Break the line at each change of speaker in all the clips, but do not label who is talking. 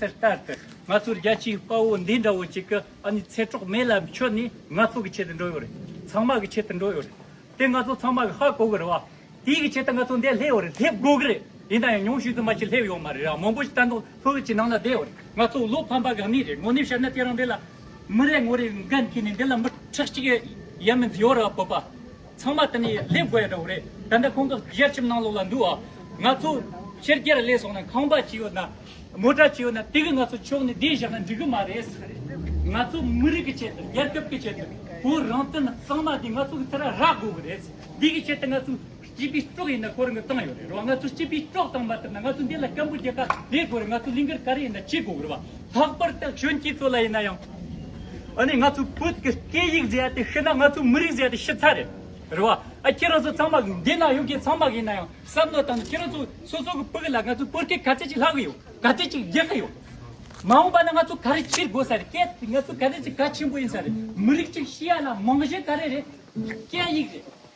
དེ་ལྟར་དུ་ང་ཚོར་རྒྱལ་སྤྱིའི་དཔའ་བོ་འདི་འདྲ་བོ་ཅིག་གི་ཨ་ནི་ཚེ་གྲོགས་མེད་ལ་ཁྱོད་ནི་ང་ཚོ་གི་ཆེད་དུ་འགྲོ་ཡོད་རེད་ཚང་མ་གི་ཆེད་དུ་འགྲོ་ཡོད་རེད་དེ་ང་ཚོ་ཚང་མ་གི་ཧ་གོ་གི་རེད་བ། དེའི་གི་ཆེད་དུ་ང་ཚོ་འདས་སླེབས་ཡོད་རེད་སླེབས་དགོས་གི་རེད་ཡིན་ན་ཡང་ཉུང་ཤོས་དུ་མ་ཅིག་སླེབས་ཡོད་མ་རེད་ར་མང་པོ་ཅིག་ལྟ་འདོག་ལྷོད་ལྷོད་ཅིག་ནང་ལ་བསྡད་ཡོད་རེད་ང་ཚོ་བློ་ཕམ་པ་ག་ནས་རེད་དངོས་གནས་བཤད་ན་དེ་རང་འདི་ལ་མི་རེ་ངོ་རེ་འགན་ཁྱེར་ནས་འདི་ལ་མི་ཁྲག་ཅིག་ཡ་མི་འཛིན་ཡོད་རེད་བ་བོད་པ། ཚང་མ་དེ་ནས་སླེབས་དགོས་ཡག་འདྲ་བོ་རེད་ད་ལྟ་ཁོང་ཚོ་བཞེར་ཁྱིམ་ནང་ལོགས་ལ་འདུག་ཨ། ང་ཚོ་ཕྱིར་རྒྱལ་ལས་སོང་ན་ཁང་པ་ཅི་ཡོད་ན། མོ་དྲ་ཅི་ཡོད་ན་དེ་གི་ང་ཚོ་ཕྱོགས་ནས་བསྡད་བཞག་ན་འགྲིག་གི་མ་རེད། ང་ཚོ་མི་རིགས་ཀྱི་ཆེད་དུ་རྒྱལ་ཁབ་ཀྱི་ཆེད་དུ་བོད་རང་བཙན་གཙང་མ་དེ་ང་ཚོ་གི་ཚེ་ར་རག་དགོས་གི་རེད། དེ་གི་ཆེད་དུ་ང་ཚོ་སྤྱི་པའི་སྐྲོག་ཡིན་ན་ཁོ་རང་གི་བཏང་ཡོད་རེད་རེད་བ་ང་ཚོ་སྤྱི་པའི་སྐྲོག་བཏང་མ་ཐུབ་ན་ང་ཚོ་འདི་ལ་སྐམ་པོ་རྒྱལ་ཁ་བསྡད་དགོས་རེད་ང་ཚོ་ལིང་གར་ག་རེ་ཡིན་ན་བྱེད་དགོས་གི་རེད་བ། ལྷག་པར་དུ་གཞོན་སྐྱེས་ཚོ་ལ་ཡིན་ན་ཡང། ཨ་ནི་ང་ཚོའི་བོད་ཀྱི་སྐད་ཡིག་མཛེས་ཏེ་ཤི་ན་ང་ཚོའི་མི་རིགས་མཛེས་ཏེ་ཤི་ཚར་རེད། རེད་བ། ཨ་ཁྱེད་རང་ཚོ་ཚང་མ་འདི་ན་ཡོད་མཁན་ཚང་མ་གི་ཡིན་ན་ཡང་བསམ་བློ་བཏང་ན་ཁྱེད་རང་ཚོ་སོ་སོ་གི་བུ་གི་ལ་ང་ཚོའི་བོད་སྐད་ག་ཚད་ཅིག་ལྷག་གི་ཡོད་ག་ཚད་ཅིག་རྒྱག་གི་ཡོད། མ་འོངས་པ་ན་ང་ཚོ་ག་རེ་ཕྱིར་དགོས་ས་རེད་སྐད་དེ་ང་ཚོའི་ག་ཚད་ཅིག་གལ་ཆེན་པོ་ཡིན་ས་རེད་མི་རིགས་ཅིག་ཤི་ཡ་ན་རྨང་གཞི་ག་རེ་རེད། སྐད་ཡིག་རེད།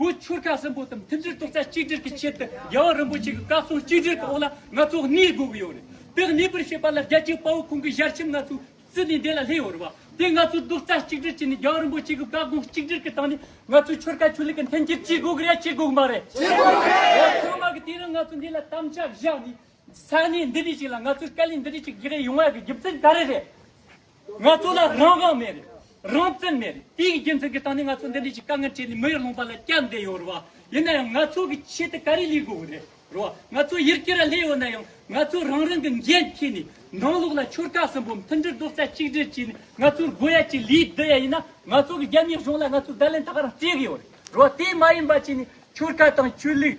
བོད་ཆོལ་ཁ་གསུམ་པོ་དང་མཐུན་སྒྲིལ་ཐོག་རྩ་གཅིག་སྒྲིལ་གྱི་ཆེད་དུ་རྒྱལ་བ་རིན་པོ་ཆེ་གི་བཀའ་གསུང་གཅིག་སྒྲིལ་གྱི་འོག་ལ་ང་ཚོ་གནས་དགོས་ཀྱི་ཡོད་རེད། དེ་གནས་པར་བྱེད་པ་ལ་རྒྱལ་གཅེས་དཔའ་བོ་ཁོང་གི་ཞལ་ཆེམས་ང་ཚོས་བརྩི་ནས་འདས་ལ་སླེབས་ཡོད་རེད་བ། དེ་ང་ཚོས་རྡོག་རྩ་གཅིག་སྒྲིལ་བྱས་ནས་རྒྱལ་བ་རིན་པོ་ཆེ་གི་བཀའ་དགོངས་གཅིག་སྒྲིལ་གྱི་སྟངས་ནས་ང་ཚོས་ཆོལ་ཁ་ཆོས་ལུགས་ཀྱི་མཐུན་སྒྲིལ་བྱེད་དགོས་ཀྱི་རེད་བྱེད་དགོས་ཀྱི་མ་རེད། བྱེད་དགོས་ཀྱི་རེད། ཡང་ཐོག་མ་གི་དུས་ནས་ང་ཚོས་འདི་ལ་དམ་བཅའ་བཞག་ནས་ས་གནས་འདི་འདྲི་ཞིག་ལ་ང་ཚོས་བཀའ་ལས་འདི་འདྲི་ཞིག་བཞག་ཡོང་བ་གི་རྒྱུ་མཚན་ག་རེ་རེད། ང་ཚོ་ལ་རང་དབང་མེད་རེད། རང་བཙན་མེད་རེད། དེའི་རྒྱུ་མཚན་གྱིས་ད་ནི་ང་ཚོ་འདི་འདྲའི་ཞིག་དཀའ་ངལ་འཕྲད་ནས་མི་ཡུལ་ལོངས་པ་ལ་སྐྱབས་བསྡད་ཡོད་རེད་བ། ཡིན་ན་ཡང་ང་ཚོ་གི་ཆེད་དུ་ག་རེ་ལས་དགོས་ཀྱི་རེད་རེད་བ། ང་ཚོ་ཡུལ་སྐྱོད་ལ་སླེབས་ཡོད་ན་ཡང་ང་ཚོས་རང་རང་གི་འགན་འཁྱེར་ནས་ནང་ལོགས་ལ་ཆོལ་ཁ་གསུམ་པོ་མཐུན་སྒྲིལ་རྡོག་རྩ་གཅིག་སྒྲིལ་བྱས་ནས་ང་ཚོར་དགོས་ཡ་ཆེད་ལས་བསྡུ་ཡ་ཡིན་ན་ང་ཚོ་གི་རྒྱ་མིའི་གཞུང་ལ་ང་ཚོའི་བརྡ་ལན་ཐག་རིང་སྤྲད་ཀྱི་ཡོད་རེད་བ། དེ་མ་ཡིན་པ་བྱས་ནས་ཆོལ་ཁ་དང་ཆོས་ལུགས།